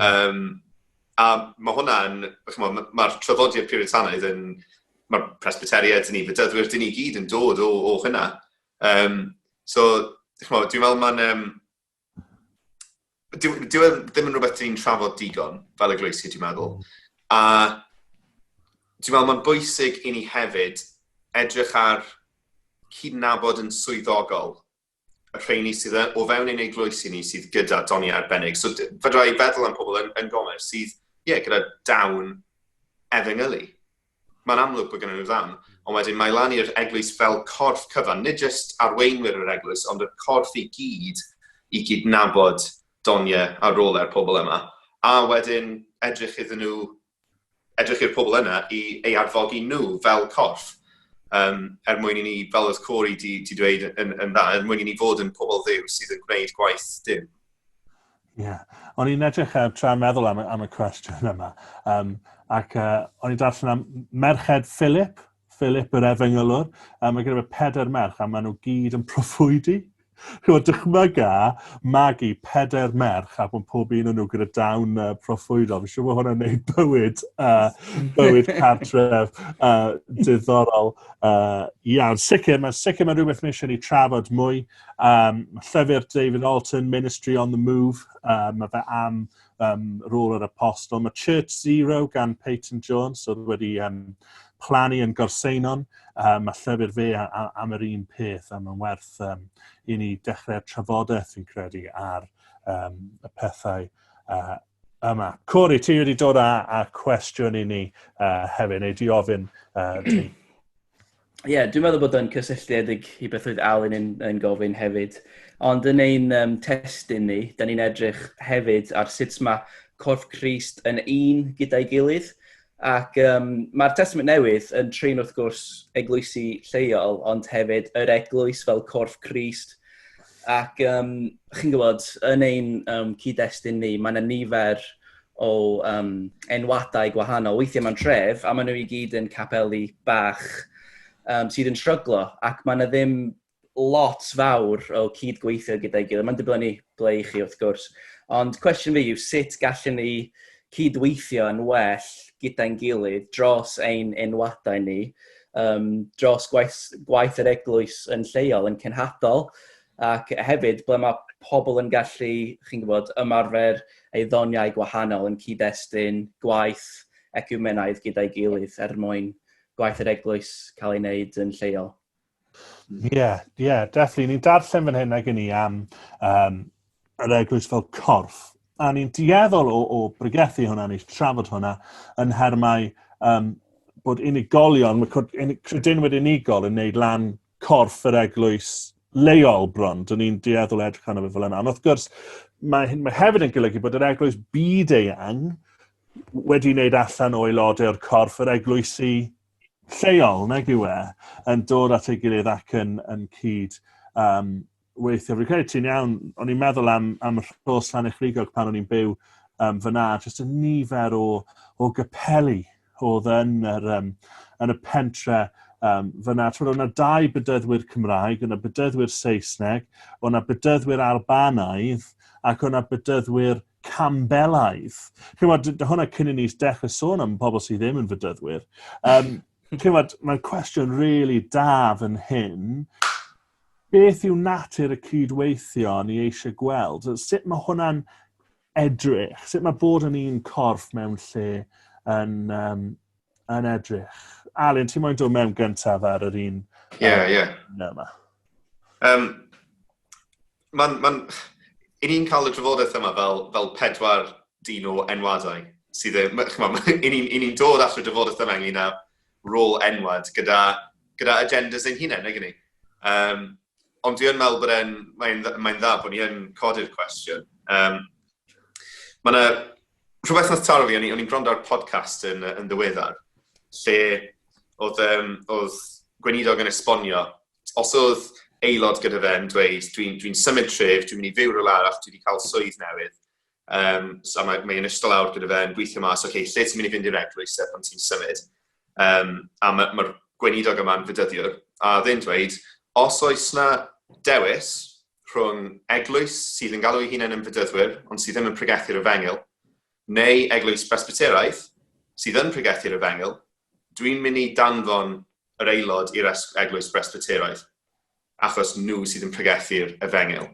Yym, a ma' hwnna'n... chimod, ma' ma'r traddodiad Puritanaidd yn... ma'r Presbyteriaid 'da ni, Bedyddwyr, 'da ni gyd yn dod o o hynna. Yym, so, chimod, dwi'n meddwl ma'n yym... dyw dyw e ddim yn rhywbeth 'da ni'n trafod digon fel eglwysi, dwi'n meddwl. A dwi'n meddwl ma'n bwysig i ni hefyd edrych ar cydnabod yn swyddogol y rheini sydd yn, o fewn ein eglwysi ni sydd gyda doniau arbennig. So fydra i feddwl am pobl yn, yn gomer sydd, ie, yeah, gyda dawn efengylu. Mae'n amlwg bod gennym nhw ddawn, ond wedyn mae lan i'r eglwys fel corff cyfan, nid jyst arweinwyr yr eglwys, ond y corff i gyd i gydnabod doniau a rolau pobl yma. A wedyn edrych iddyn nhw edrych i'r pobl yna i ei arfogi nhw fel corff um, er mwyn i ni, fel oedd Corey di, di dweud yn, yn dda, er mwyn i ni fod yn pobl ddiw sydd yn gwneud gwaith dim. Ie. Yeah. O'n i'n edrych uh, tra'n meddwl am, am y cwestiwn yma. Um, ac uh, o'n i'n darllen am Merched Philip, Philip, yr efengylwr, a mae gyda fe pedair merch, a maen nhw gyd yn proffwydi. Chymod, dychmyga magu pedair merch a bod pob un o'n nhw gyda dawn uh, proffwydol. Fi'n siŵr bod hwnna'n gwneud bywyd, uh, bywyd cartref uh, diddorol uh, iawn. Sicr, mae'n sicr mae'n rhywbeth mae eisiau ni trafod mwy. Um, llyfr David Alton, Ministry on the Move, uh, mae fe am um, rôl yr apostol. Mae Church Zero gan Peyton Jones, oedd wedi um, plannu yn gorseinon, um, a llyfr fe am yr un peth, a mae'n werth um, i ni dechrau'r trafodaeth fi'n credu ar um, y pethau uh, yma. Cori, ti wedi dod â, â cwestiwn i ni uh, hefyd, neu di ofyn uh, Ie, yeah, dwi'n meddwl bod o'n cysylltiedig i beth oedd Alun yn, yn gofyn hefyd. Ond yn ein um, testyn ni, da ni'n edrych hefyd ar sut mae corff Christ yn un gyda'i gilydd. Ac um, mae'r testament newydd yn trin wrth gwrs eglwysi lleol, ond hefyd yr eglwys fel corff Christ. Ac yym, chi'n gwybod, yn ein um, cyd-destun ni, mae yna nifer o um, enwadau gwahanol. Weithiau mae'n tref, a maen nhw i gyd yn capeli bach um, sydd yn shryglo, ac mae yna ddim lot fawr o cyd-gweithio gyda'i gilydd. Mae'n dibynnu ble i chi, wrth gwrs. Ond cwestiwn fi yw sut gallwn ni cyd-weithio yn well gyda'n gilydd dros ein enwadau ni, yym, dros gwaith, gwaith yr eglwys yn lleol, yn cenhadol, ac hefyd ble mae pobl yn gallu, chi'n gwybod, ymarfer ei ddoniau gwahanol yn cyd-destun gwaith ecumenaidd gyda'i gilydd er mwyn gwaith yr eglwys cael ei wneud yn lleol. Ie, yeah, ie, yeah, definitely. Ni'n darllen fan hyn ag i ni am um, yr eglwys fel corff. A ni'n dieddol o, o bregethu hwnna, ni'n trafod hwnna yn hermau um, bod unigolion, mae credinwyr unigol yn neud lan corff yr eglwys leol bron. Dyn ni'n dieddol edrych arno fe fel yna. Ond wrth gwrs, mae, mae hefyd yn golygu bod yr eglwys byd eang wedi wneud allan o aelodau o'r corff yr eglwysi lleol, nag yw e, yn dod at ei gilydd ac yn, yn cyd um, weithio. Fi'n credu ti'n iawn, o'n i'n meddwl am, am y rhos lan eich rigog pan o'n i'n byw um, fyna, jyst y nifer o, o gypeli oedd yn, yr, um, yn y pentre um, fyna. Twyd, o'na dau bydyddwyr Cymraeg, o'na bydyddwyr Saesneg, o'na bydyddwyr Albanaidd, ac o'na bydyddwyr Campbellaidd. Cymod, hwnna cyn i ni dechrau sôn am pobl sydd ddim yn fydyddwyr. Um, Cymod, mae'n cwestiwn really da fan hyn. Beth yw natur y cydweithio ni eisiau gweld? Sut mae hwnna'n edrych? Sut mae bod yn un corff mewn lle yn, um, yn edrych? Alun, ti'n mwyn dod mewn gyntaf ar yr un? Ie, yeah, ie. Yeah. Um, mae'n... Mae, i ni'n cael y drafodaeth yma fel, fel pedwar dyn o enwadau sydd e... I ni'n ni, ni dod at y drafodaeth yma ynglyn â rôl enwad gyda, gyda agendas ein hunain, nag ni? Um, ond dwi yn meddwl bod e'n, mae'n mae dda bod ni yn codi'r cwestiwn. Um, mae yna rhywbeth nath taro fi, o'n i'n gwrando ar podcast yn, yn ddiweddar, lle oedd, um, oedd gweinidog yn esbonio os oedd aelod gyda fe yn dweud, dwi'n dwi, symud tref, dwi'n mynd i fyw rhywle arall, dwi wedi cael swydd newydd, um, so mae, mae yn ystod awr gyda fe yn gweithio mas, oce, okay, lle ti'n mynd i fynd i'r eglwys e pan ti'n symud? Um, a mae'r ma, ma gweinidog yma'n fydyddiwr, a ddyn dweud, os oes na dewis rhwng eglwys sydd yn galw ei hunain yn fydyddwyr, ond sydd ddim yn pregethu'r efengil, neu eglwys Presbyteraidd sydd yn pregethu'r efengil, dwi'n mynd i danfon yr aelod i'r eglwys Bresbyteraidd, achos nhw sydd yn pregethu'r efengyl.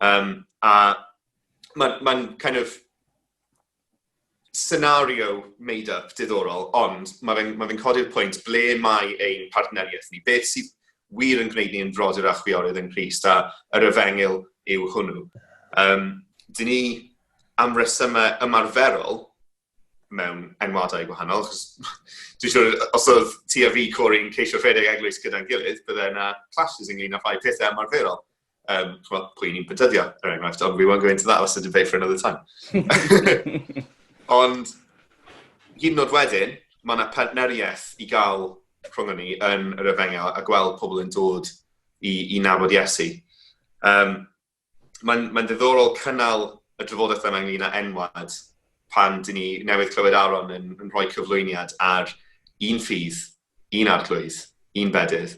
Um, a mae'n ma kind of scenario made up diddorol, ond mae fe'n ma fe codi'r pwynt ble mae ein partneriaeth ni, beth sydd wir yn gwneud ni yn frodyr a chwiorydd yn Christ a yr efengyl yw hwnnw. Um, dyn ni am resymau ymarferol mewn enwadau gwahanol, achos dwi'n siŵr, os oedd ti a fi Corey'n ceisio rhedeg eglwys gyda'n gilydd, bydde yna clashes ynglyn â rhai pethau ymarferol. Um, chwa, pwy ni'n pentyddio, er enghraifft, ond we won't go into that, that's a debate for another time. ond, hyn nod wedyn, mae yna partneriaeth i gael rhwng ni yn yr efengyl a gweld pobl yn dod i, i nabod Iesu. Um, mae'n mae ddiddorol cynnal y drafodaeth yma ynglyn â enwad pan dyn ni newydd clywed Aaron yn, yn rhoi cyflwyniad ar un ffydd, un arglwydd, un bedydd.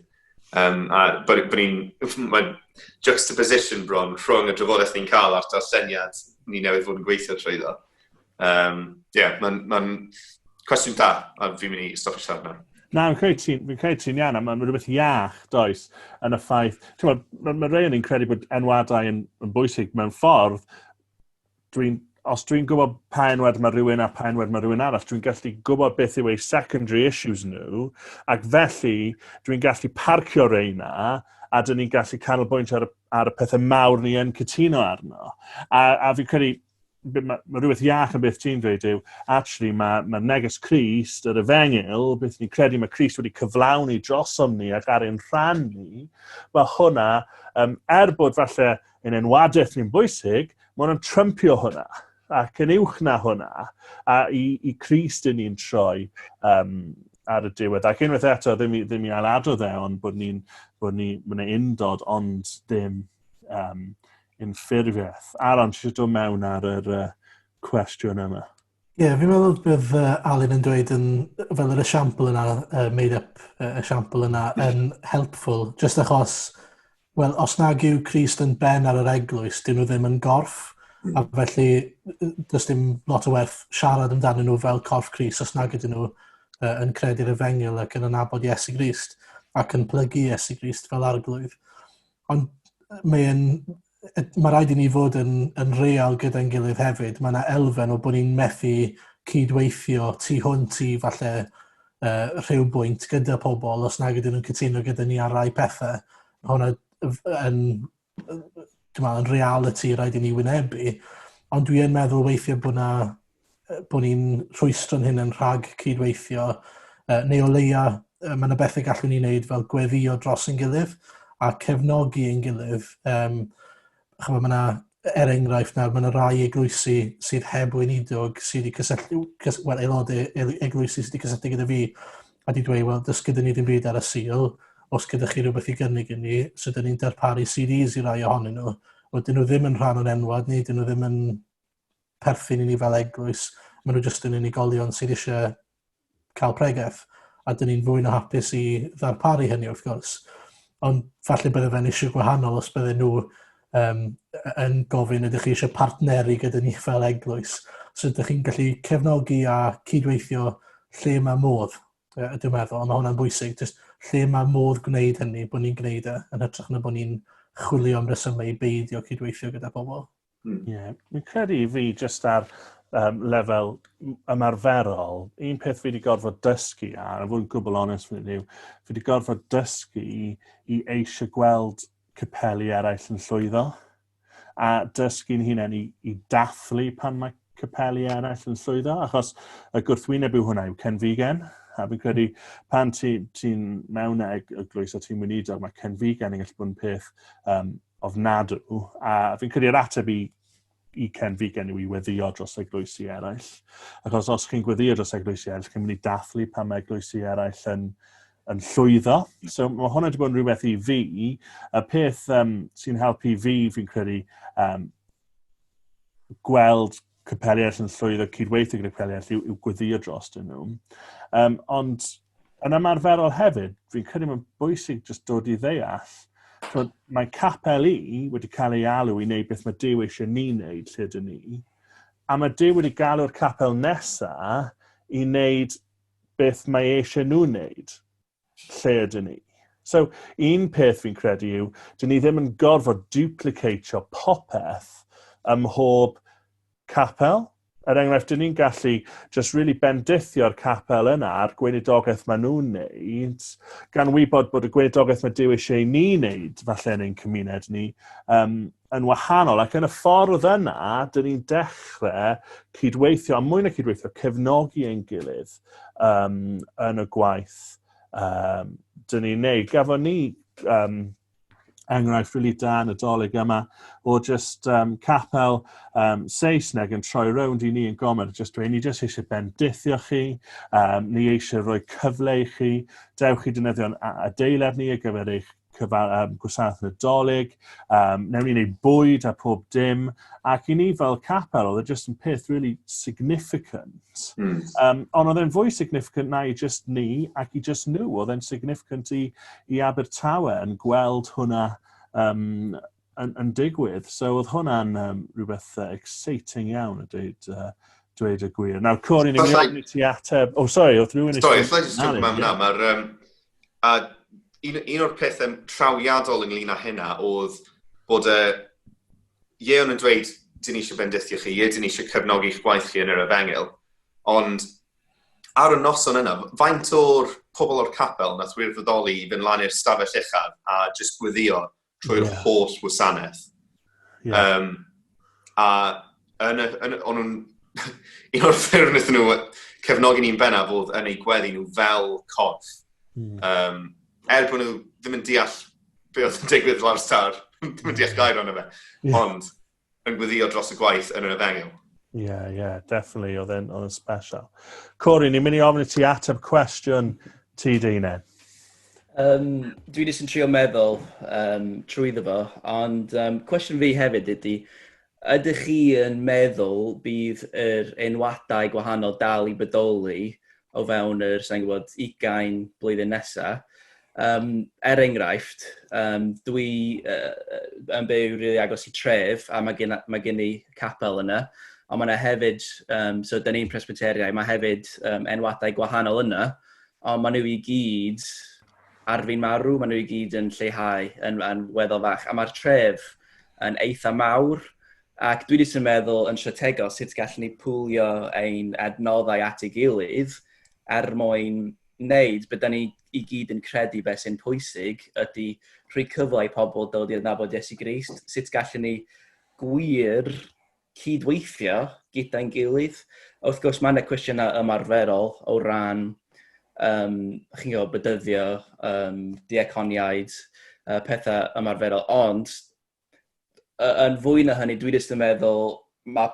Um, a bod, bod ni'n, mae juxtaposition bron rhwng y drafodaeth ni'n cael a'r darlleniad ni newydd fod yn gweithio trwy ddo. Um, yeah, mae'n ma cwestiwn da, a fi'n mynd i stopio siarad na. Na, fi'n credu ti'n fi credu ti iawn, a mae'n rhywbeth iach, does, yn y ffaith. Mae ma, ma rei o'n i'n credu bod enwadau yn, yn bwysig mewn ffordd. Dwi'n os dwi'n gwybod pa enwad mae rhywun a pa enwad mae rhywun arall, dwi'n gallu gwybod beth yw ei secondary issues nhw, ac felly dwi'n gallu parcio reina, a dyn ni'n gallu canolbwyntio ar, ar y pethau mawr ni yn cytuno arno. A, a fi'n credu, mae ma rhywbeth iach yn beth ti'n dweud yw, actually mae, ma neges Christ, yr efengyl, beth ni'n credu mae Christ wedi cyflawni drosom ni ac ar ein rhan ni, mae hwnna, um, er bod falle yn enwadaeth ni'n bwysig, mae hwnna'n trympio hwnna ac yn uwch na hwnna a i, i Christ yn ni'n troi um, ar y diwedd. Ac unwaith eto, ddim i, ddim i aladrodd e, ond bod ni'n bod ni, bod ni'n undod ond ddim um, unffurfiaeth. Alan, ti eisiau dod mewn ar yr uh, cwestiwn yma? Ie, yeah, fi'n meddwl bydd uh, Alun yn dweud yn, fel yr esiampl yna, uh, made up uh, esiampl yna, yn helpful, just achos, wel, os nag yw Christ yn ben ar yr eglwys, dyn nhw ddim yn gorff, mm. a felly does dim lot o werth siarad amdano nhw fel corff Christ os nag ydyn nhw uh, yn credu'r efengyl ac yn anabod Iesu Grist ac yn plygu Iesu Grist fel arglwydd. Ond mae e'n... Mae rhaid i ni fod yn, yn real gyda'n gilydd hefyd. Mae yna elfen o bod ni'n methu cydweithio tu hwnt i falle uh, rhyw bwynt gyda pobl os nag ydyn nhw'n cytuno gyda ni ar rai pethau. Mae hwnna yn, yn, yn reality rhaid i ni wynebu. Ond dwi yn meddwl weithiau bod yna bod ni'n rhwystro'n hynna'n rhag cydweithio, uh, neu o leia uh, mae yna bethau gallwn ni wneud fel gweddio dros yn gilydd a cefnogi ein gilydd. Um, Chyfo, mae yna, er enghraifft nawr, mae yna rai eglwysi sydd heb weinidog sydd wedi cysylltu, cys, well, aelodau eglwysi sydd wedi cysylltu gyda fi a wedi dweud, wel, dys gyda ni ddim byd ar y sil, os gyda chi rhywbeth i gynnig i ni, so dyn ni'n darparu CDs i rai ohonyn nhw. Wel, dyn nhw ddim yn rhan o'n enwad ni, dyn nhw ddim yn perthyn i ni fel eglwys, maen nhw jyst yn unigolion sydd eisiau cael pregeth, a dyn ni'n fwy na hapus i ddarparu hynny wrth gwrs. Ond falle bydde fe'n eisiau gwahanol os bydde nhw um, yn gofyn ydych chi eisiau partneru gyda ni fel eglwys. So ydych chi'n gallu cefnogi a cydweithio lle mae modd, uh, dwi'n meddwl, mae hwnna'n bwysig, just lle mae modd gwneud hynny, bod ni'n gwneud e, yn hytrach na bod ni'n chwilio am resymau i beidio cydweithio gyda pobl. Hmm. Ie, yeah. mi'n credu i fi jyst ar um, lefel ymarferol, un peth fi wedi gorfod dysgu ar, a fod yn gwbl onest fan hyn yw, fi wedi gorfod dysgu i eisiau gweld capeli eraill yn llwyddo, a dysgu'n hunain i, i dathlu pan mae capeli eraill yn llwyddo, achos y gwrthwyneb yw hwnna yw Ken Vegan, a fi'n credu pan ti'n ti mewn ag y glwys a ti'n wynidog, mae Ken Vegan yn gallu bod yn peth um, ofnadw, a fi'n credu yr ateb i i Ken Figan yw i weddio dros eglwysi eraill. Achos os chi'n gweddio dros eglwysi eraill, chi'n mynd i dathlu pan mae eglwysi eraill yn, yn llwyddo. Hmm. So mae hwnna wedi bod yn rhywbeth i fi. Y peth um, sy'n helpu fi, fi'n credu, um, gweld capeli eraill yn llwyddo cydweithio gyda capeli eraill yw, yw gweddio dros dyn nhw. Um, ond yn ymarferol hefyd, fi'n credu mae'n bwysig jyst dod i ddeall Twod, mae capel i wedi cael ei alw i wneud beth mae Dyw eisiau ni wneud lle dyn ni. A mae Dyw wedi galw'r capel nesa i wneud beth mae eisiau nhw wneud. lle ydyn ni. So, un peth fi'n credu yw, dyn ni ddim yn gorfod duplicatio popeth ym mhob capel. Er enghraifft, dyn ni'n gallu just really bendithio'r capel yna a'r gweinidogaeth maen nhw'n neud, gan wybod bod y gweinidogaeth mae Dyw eisiau ni wneud falle yn ein cymuned ni, um, yn wahanol ac yn y ffordd yna, dyn ni'n dechrau cydweithio, a mwy na cydweithio, cefnogi ein gilydd um, yn y gwaith um, dyn ni'n neud. Gafon ni um, enghraifft rili really da yn y dolyg yma o just um, capel um, Saesneg yn troi rownd i ni yn gomer, just dweud, ni just eisiau bendithio chi, um, ni eisiau rhoi cyfle i chi, dewch i dynyddio'n adeilad ni ar gyfer eich cyfal, um, gwasanaeth nadolig, um, newn ni wneud bwyd a pob dim, ac i ni fel capel, oedd e just yn peth really significant. Mm. Um, ond oedd e'n fwy significant na i just ni ac i just nhw, oedd e'n significant i, i Abertawe yn gweld hwnna um, yn, yn digwydd. So oedd hwnna'n um, rhywbeth uh, exciting iawn a dweud, uh, dweud y gwir. Nawr, Cori, ni'n mynd i ti ateb... Oh, sorry, oedd rhywun eisiau... Sorry, llai jyst gwybod yna. Mae'r... Um, a un, un o'r pethau trawiadol ynglyn â hynna oedd bod y... Uh, Ieon yn dweud, dyn ni eisiau bendithio chi, ie, dyn ni eisiau cefnogi eich gwaith chi yn yr efengil, ond ar y noson yna, faint o'r pobl o'r capel nath wirfoddoli i fynd lan i'r stafell uchaf a jyst gwyddio trwy'r yeah. holl wasanaeth. Yeah. Um, a yn y, yn, o'n nhw'n... un o'r ffyrdd wnaethon nhw cefnogi ni'n benna fod yn eu gweddi nhw fel corff. Mm. Um, er bod nhw ddim yn deall be oedd yn digwydd lawr star, ddim yn deall gair ond fe. Yeah. Ond, yn gweddio dros y gwaith yn yr efengyl. Ie, yeah, ie, yeah, definitely, oedd yn, oedd yn special. Cori, ni'n mynd i ofyn i ti ateb cwestiwn ti dy hunain. Um, dwi jyst yn trio meddwl um, trwy ddefo, fo, ond um, cwestiwn fi hefyd ydy, ydych chi yn meddwl bydd yr enwadau gwahanol dal i bodoli o fewn yr, sa'n gwybod, ugain blwyddyn nesa. Um, er enghraifft, um, dwi uh, yn byw rili really agos i tref a mae gen, mae gen i capel yna, ond mae yna hefyd, um, so dyn ni'n presbyteriau, mae hefyd um, enwadau gwahanol yna, ond mae nhw i gyd ar fi'n marw, mae nhw i gyd yn lleihau yn, yn weddol fach, a mae'r tref yn eitha mawr, Ac dwi jyst yn meddwl yn strategol sut gallwn ni pwlio ein adnoddau at ei gilydd er mwyn wneud beth da ni i gyd yn credu beth sy'n pwysig ydy rhoi cyfle i pobl dod i adnabod Iesu Grist. Sut gallwn ni gwir cydweithio gyda'n gilydd? Wrth gwrs, mae yna cwestiynau ymarferol o ran um, chi'n gwybod, bydyddio, um, diaconiaid, uh, pethau ymarferol, ond yn fwy na hynny, dwi jyst yn meddwl, mae,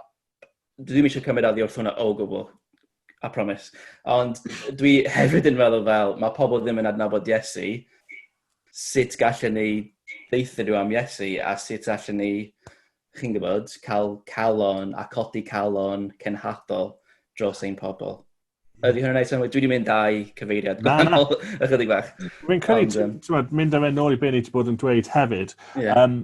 dwi ddim eisiau cymryd addi wrth hwnna o gwbl, a promis. Ond dwi hefyd yn meddwl fel, mae pobl ddim yn adnabod Iesu, sut gallen ni ddeitha nhw am Iesu, a sut allen ni, chi'n gwybod, cael calon a codi calon cenhadol dros ein pobl. Ydy hwnna'n ei synnwyr? Dwi wedi mynd â'i cyfeiriad gwahanol ychydig bach. Fi'n credu, ti'n mynd am enol i beth ni wedi bod yn dweud hefyd. Yeah. Um,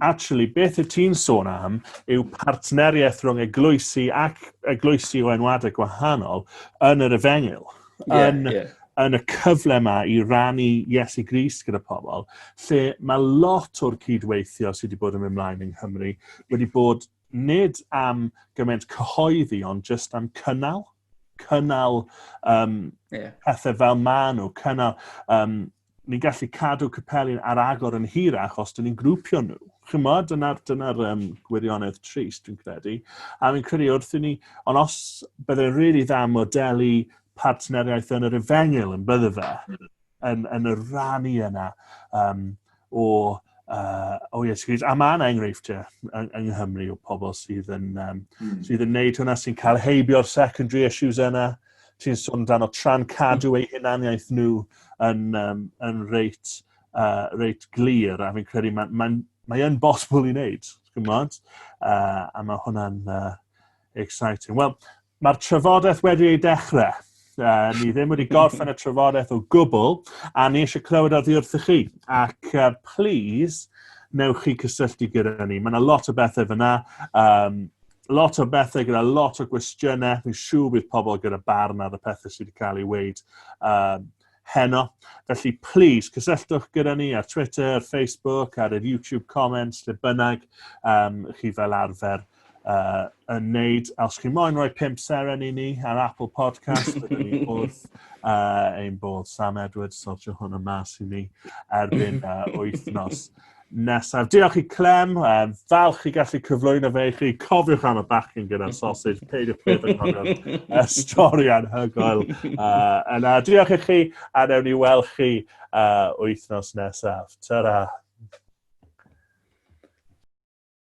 actually, beth y ti'n sôn am yw partneriaeth rhwng eglwysi ac eglwysi o enwadau gwahanol yn yr efengyl. Yeah, yn, yeah. yn y cyfle yma i rannu Iesu Gris gyda pobl, lle mae lot o'r cydweithio sydd wedi bod yn mynd mlaen yng Nghymru wedi bod nid am gymaint cyhoeddi, ond just am cynnal, cynnal um, yeah. pethau fel maen nhw, cynnal, um, ni'n gallu cadw capelin ar agor yn hirach os dyn ni'n grwpio nhw. Chymod, dyna'r dyna um, gwirionedd trist, dwi'n credu. A mi'n credu wrth i ni, ond os byddai'n rili really dda modelu partneriaeth yn yr efengyl yn bydde fe, yn, yn y rannu yna um, o, uh, o iesgyd. A mae yna enghreifftiau yng, yng Nghymru o pobl sydd yn, um, mm. sydd yn neud hwnna, sy'n cael heibio'r secondary issues yna. Ti'n sôn dan o tran cadw eu hunaniaeth nhw yn, um, yn reit, uh, reit glir, a fi'n credu mae'n ma, ma, ma bosibl i wneud, gwybod? Uh, a mae hwnna'n uh, exciting. Wel, Mae'r trafodaeth wedi ei dechrau. Uh, ni ddim wedi gorffen y trafodaeth o gwbl, a ni eisiau clywed oddi wrthych chi. Ac uh, please, newch chi cysylltu gyda ni. Mae yna lot o bethau fyna, um, lot o bethau gyda lot o gwestiynau. Fi'n siŵr bydd pobl gyda barn ar y pethau sydd wedi cael ei weid. Um, heno. Felly, please, cysylltwch gyda ni ar Twitter, ar Facebook, ar yr YouTube comments, lle bynnag um, chi fel arfer uh, yn neud. A os chi moyn rhoi pimp seren i ni ar Apple Podcast, byddwn ni wrth uh, ein bod Sam Edwards sortio hwn y mas i ni erbyn uh, wythnos. nesaf. Diolch i Clem, um, falch i gallu cyflwyno fe i chi. Cofiwch am y bacyn gyda'r sausage, peidiwch beth yn cofio y stori anhygoel. Uh, yna, diolch i chi, a newn ni weld chi uh, wythnos nesaf. Ta-ra!